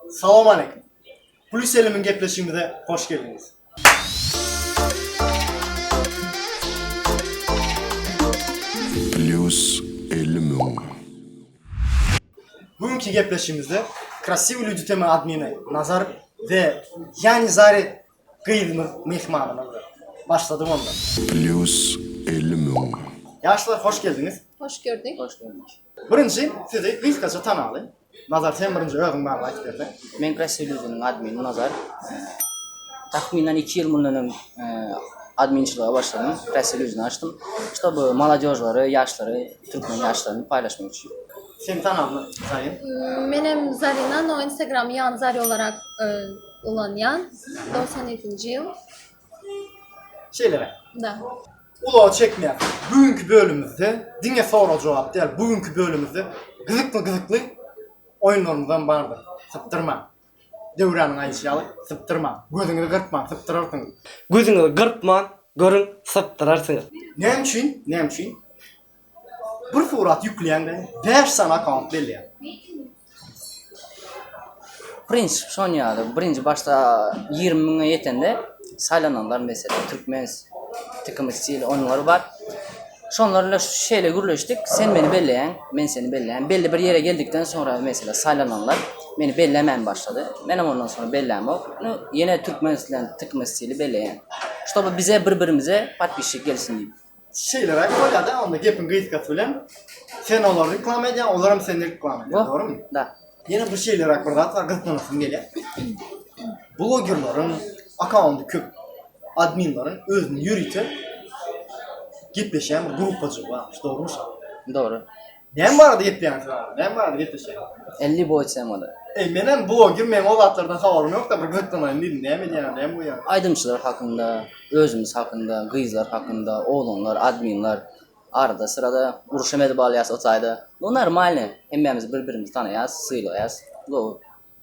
Salam aleýkum. Gül Selimin gepleşigimize hoş geldiňiz. Plus elimiň. Bu günki gepleşigimizde Krasiwy lýudi tema admini Nazar we Ýani Zari gyzymyz myhmanymyzdyr. Başladyk onda. Plus elimiň. Ýaşlar hoş geldiňiz. Hoş gördük. Hoş gördük. Birinji sizi gysgaça tanalyň. Nazar sen birinji özüň barada aýdyp berseň. Men press reliz-iniň admini Nazar. Takmynan iki ýyl mundan öň adminçilige başladym, press reliz-ini açdym. Ştob molodežlary, ýaşlary, türkmen ýaşlaryny paýlaşmak üçin. Seni tanalyň Zarin. Menem Zarina, no instagramy ýan zari olarak ulanýan. Dogsan ýedinji ýyl. Şeýleräk. Da. Ulagy çekmeýäs. Bu günki bölümimizde diňe sorag-jogap däl, bu günki bölümimizde gyzykly-gyzykly oýunlarymyzam bardyr. Sypdyrmaň. Döwranyň aýdyşy ýaly, sypdyrmaň. Gözüňizi gyrpmaň, sypdyrarsyňyz. Gözüňizi gyrpman, görüň, sypdyrarsyňyz. Näme üçin? Näme üçin? Bir surat ýükleýäňde bäş sany akkaunt belleýär. Prensip şon ýaly. Birinji başda ýigrimi müňe ýetende saýlananlar meselem türkmen tikimi stil onlary bar. Şonlar bilen şeýle gürleşdik. Sen meni belleýäň, men seni belleýän. Belli bir ýere geldikden soňra meselem saýlananlar meni bellemän başlady. Menem ondan soňra bellämok. Nu ýene türkmen stil tikimi stili belleýän. Şoba bize bir-birimize podpisçik gelsin diýip. Şeýleräk bolýar-da, onda gepiň gysgasy bilen, sen olary reklama edýäň, olar hem seni reklama edýär, dogrumy? Da. Ýene bir şeýleräk bir zat bar, gyzyklanasym gelýär. Blogerleriň akkaunty köp adminleriň özüniň ýörite gepleşýän bir gruppajygy barmyş, dogrumy şa? Dogry. Näme barada gepleýäňiz siz agam? Näme barada gepleşýäňiz? 50 boý içsem bolar. Eý, menem bu gün meň o zatlardan habarym ýok-da, bir gykynaýyn diýdim. Näme edýäňiz, näme goýýaňyz? Aýdymçylar hakynda, özümiz hakynda, gyzlar hakynda, oglanlar, adminler arada-syrada uruşam edip alýas o taýda. Bu normalny, hemmämiz bir-birimizi tanaýas, sylagýas. Bu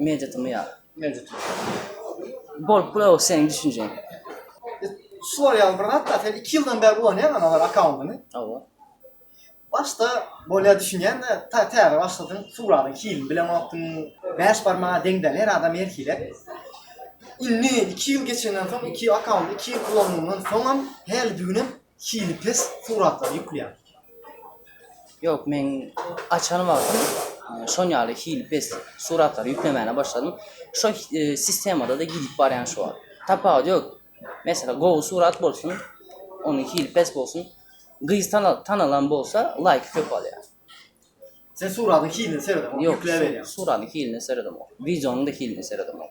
Mewjudymy ýa? Mewjut. Bolup bula seniň düşünjeň. Şu var ýaly bir zat da, sen 2 ýyldan bäri ulanýaň ana bar akkauntyny. Hawa. Başda bolýa düşünýän de, ta täze başladyň, suratyň hilini bilenokdyň. Bäş barmaga deň däl, her adam her hile. Indi 2 ýyl geçenden soň, iki akkaunty 2 ýyl ulandygyňdan soňam, häli düýnem hili pes suratlary ýükleýän. Ýok, men açan wagtym e, şon ýaly hili pes suratlary ýüklemäne başladym. Şo e, sistemada-da gidip barýan şu wagt. Tapawut ýok. Mesela gowy surat bolsun, onuň hili pes bolsun. Gyz tana- tanalan bolsa, laýk köp alýar. Sen suratyň hilini seredemok, Ýok, ýükläp su- berýän. suratyň hiline seredemok. Wideonyň da hiline seredemok.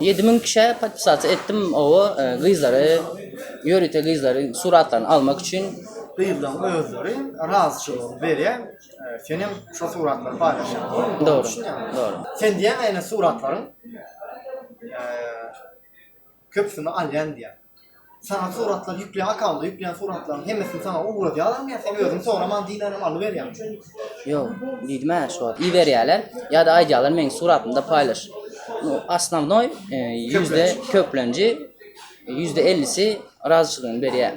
Ýedi müň kişä podpisasiýa etdim, oba gyzlary, ýörite gyzlary suratlaryny almak üçin. Gyzlaryň özleri razyçylygyny berýär, senem şo suratlary paýlaşýaň, dogrumy? Dogry, dogry. Sen diýýäň-ä ine suratlaryň köpüsini alýan diýýäň. Saňa suratlar ýükleýän akkaunda ýükleýän suratlaryň hemmesini saňa ugradýarlarmy ýa sen özüň soraman diýmänem alyberýäň? Ýok, diýdim-ä şu wagt. Iberýärler ýa-da aýdýarlar meň suratymda paýlaş. Nu, osnownoý ýüzde köplenji, ýüzde ellisi razyçylygyny berýär.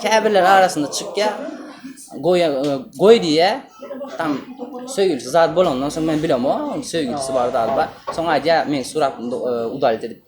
Käbirleri arasynda çykýar, goýa, goý diýýär. Tam söýgülisi zat bolandan soň men bilemok, söýgülisi bar zady bar. Soň aýdýar meň suratymda udalit edip.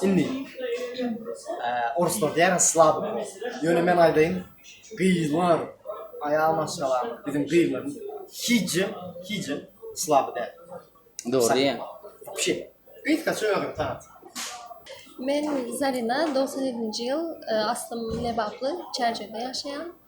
Indi oruslar diýýär slabik bol. Ýöne men aýdaýyn, gyzlar, aýal maşgalalar, biziň gyzlarym hiçje, hiçje slab däl. Dogry diýýäň. Wopşe. Gyz kaça özüňi tanat. Men Zarina, dogsan ýedinji ýyl, aslym lebaply, Çärjewde ýaşaýan.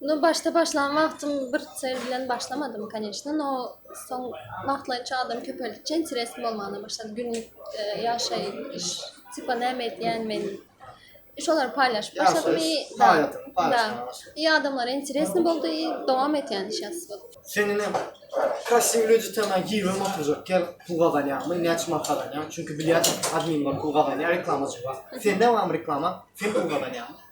Ну, başda başlan wagtym bir sel bilen başlamadym, конечно, no soň wagtlaýynça adam köpeldikçe interes bolmana başlady. Günlük ýaşaýyş, iş, tipa näme edýän men. Şolary paýlaşyp başladym i da. I adamlara interesno boldy i dowam et ýany şeýas bolup. Sen ine passiw lýudy temaň giribem oturjak ýer pul gazanýaňmy, näçe manat gazanýaň? Çünki bilýän adminler pul gazanýar reklamaçylar. Sende barmy reklama? Sen pul gazanýaňmy?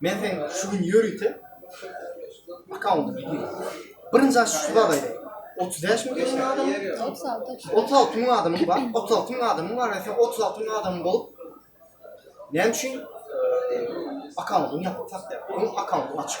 Men sen şu gün ýörite akkaunt bilýän. Birinji aç şu zada ýer. 35 mi geçen adam? 36 mü adam mı var? 36 mü adam mı var? Sen 36 mü adam mı bulup? Ne için? Akkauntun yapıp tak der. Onun akkauntun açık.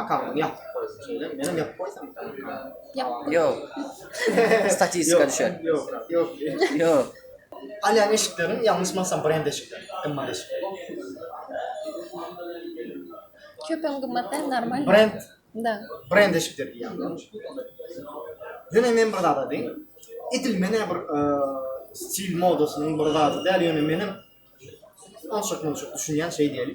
Akamyň ýapyp goýsun şeýle. Menem ýapyp goýsam. Ýok. Statistika düşer. Ýok, ýok. Ýok. Alýan eşikleriň ýalňyşmasam brend eşikleri, gymmat eşikler. Köpem gymmat däl, normal. Brend. Da. Brend eşikler diýýän. Ýöne men bir zada diýin. Edil men bir stil modasynyň bir zady däl, ýöne menem onçakmunçak düşünýän şeý diýeli.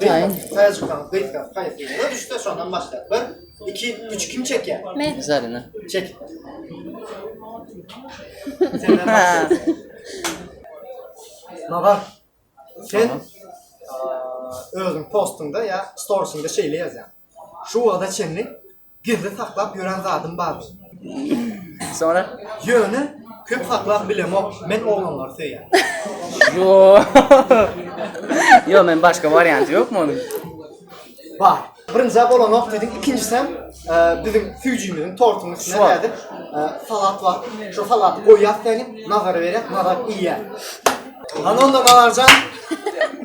Gaýyn. Taýjykan gyzka taýjyga düşse şondan başga. Bir, iki, üç kim çekýär? Men. Zarina. Çek. Senden başga. Magar. Sen Tamam. eee, özüň postyňda ýa storiesinde şeýle ýazýaň. Şu wagta çenli Gizli saklap ýören zadym bardy. Soňra? Ýöne köp saklap bilemok, men oglanlary söýýän. Ýok. Ýok, men başga warianty ýokmy onuň? Bar. Birinjä bolanok diýdiň, ikinjisem biziň süýjimiziň tortuň üstüne nädip salat bar. Şo salaty goýýas sähel, Nazara berýäs, Nazar iýýär. Hany onda Nazarjan,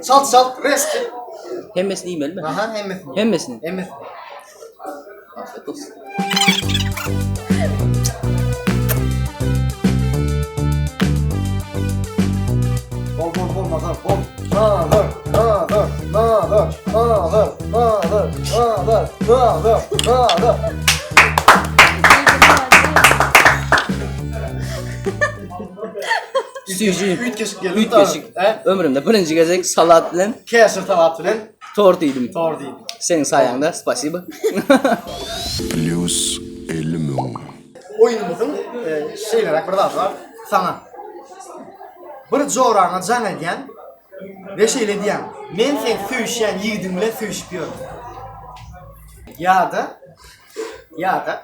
çalt-çalt, resp. Hemmesini iýmelimi? Aha, hemmesini. Hemmesini? Hemmesini. Süýji. Üýtgeşik geldi. Üýtgeşik. He? Ömrümde birinji gezek salat bilen Käşir salat bilen Tor diýdim. Tor diýdim. Seň saýaňda, spasiba. Plýus elli müň. Oýnumyzyň şeýleräk bir zady bar. Saňa bir joraňa jaň edýän we şeýle diýýän, Men seň söýüşýän ýigidiň bilen söýüşip ýörün. Ýa-da, ýa-da.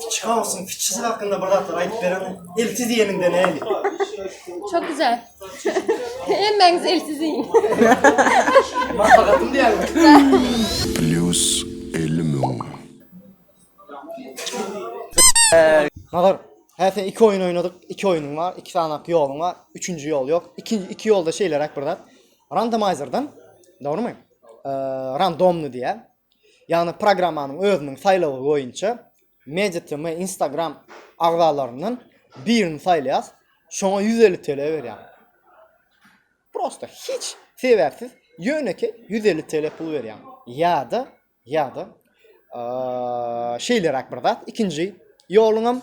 Kiçi hausyň kiçisi hakynda bir zatlar aýdyp bereniň. Elsiz diýeniňde näli? Çok güzel. Hemmäňiz elsiz iýin. Maslahatym diýýäňmi? Plus 50 müň. Nazar, hä sen iki oýun oýnadyk, iki oýunyň bar, iki sanak ýoluň bar, üçünji ýol ýok. Iki, iki ýolda şeýleräk bir zat. Randomaýzerden, dogrymy? Eee, randomny diýýär. ýagny programmanyň özüniň saýlawy boýunça MediaTm Instagram agzalaryndan birini saýlaýas, şoňa ýüz elli TL berýär. Prosta hiç sebäpsiz ýönekeý ýüz elli TL pul berýär. Ýa-da, ýa-da şeýleräk bir zat, ikinji ýoluňam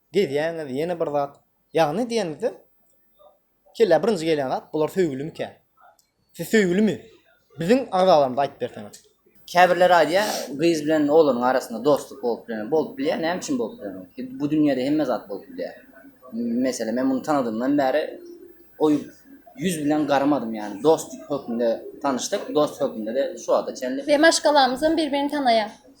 Gezýäňiz, ýene bir zat. Ýagny diýenimizde, kellä birinji gelýän zat, bular söýgülimikä? Siz söýgülimi? Biziň agzalarymyza aýdyp berseňiz. Käbirleri aýdýar, gyz bilen oglanyň arasynda dostluk bolup bilenok. Bolup bilýär, näme üçin bolup bilenok? Bu dünýäde hemme zat bolup bilýär. Meselem, men muny tanadymdan bäri o ýüz bilen garamadym, ýagny dost hökmünde tanyşdyk, dost hökmünde-de şu wagta çenli. We maşgalamyzam bir-birini tanaýar.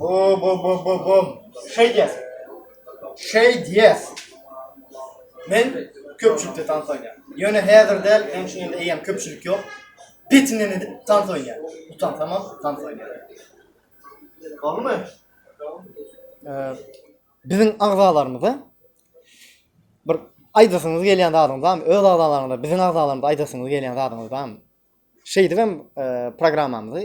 Bo bo bo bo bo. Şey yes. Şey yes. Men köpçülikde tans oýnaýan. Ýöne häzir däl, hem şu ýerde eýem köpçülik ýok. Petinden edip tans oýnaýan. Utan tamam tans oýnaýan. Galmy? Eee biziň agzalarymyza bir aýdasyňyz gelýän zadyňyz barmy? Öz agzalaryňyza, biziň agzalarymyza aýdasyňyz gelýän zadyňyz barmy? Şeýdibem eee programmamyzy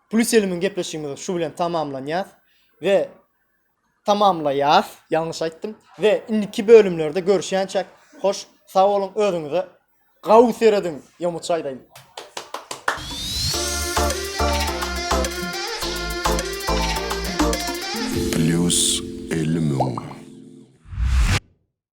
Plüselimiň gepleşigimizi şu bilen tamamlanýas we tamamlaýas, ýalňyş aýtdym, we indiki bölümlerde görüşýänçäk, hoş, sag boluň, özüňize gawy serediň, ýomuç aýdaýyn. Plüselimiň.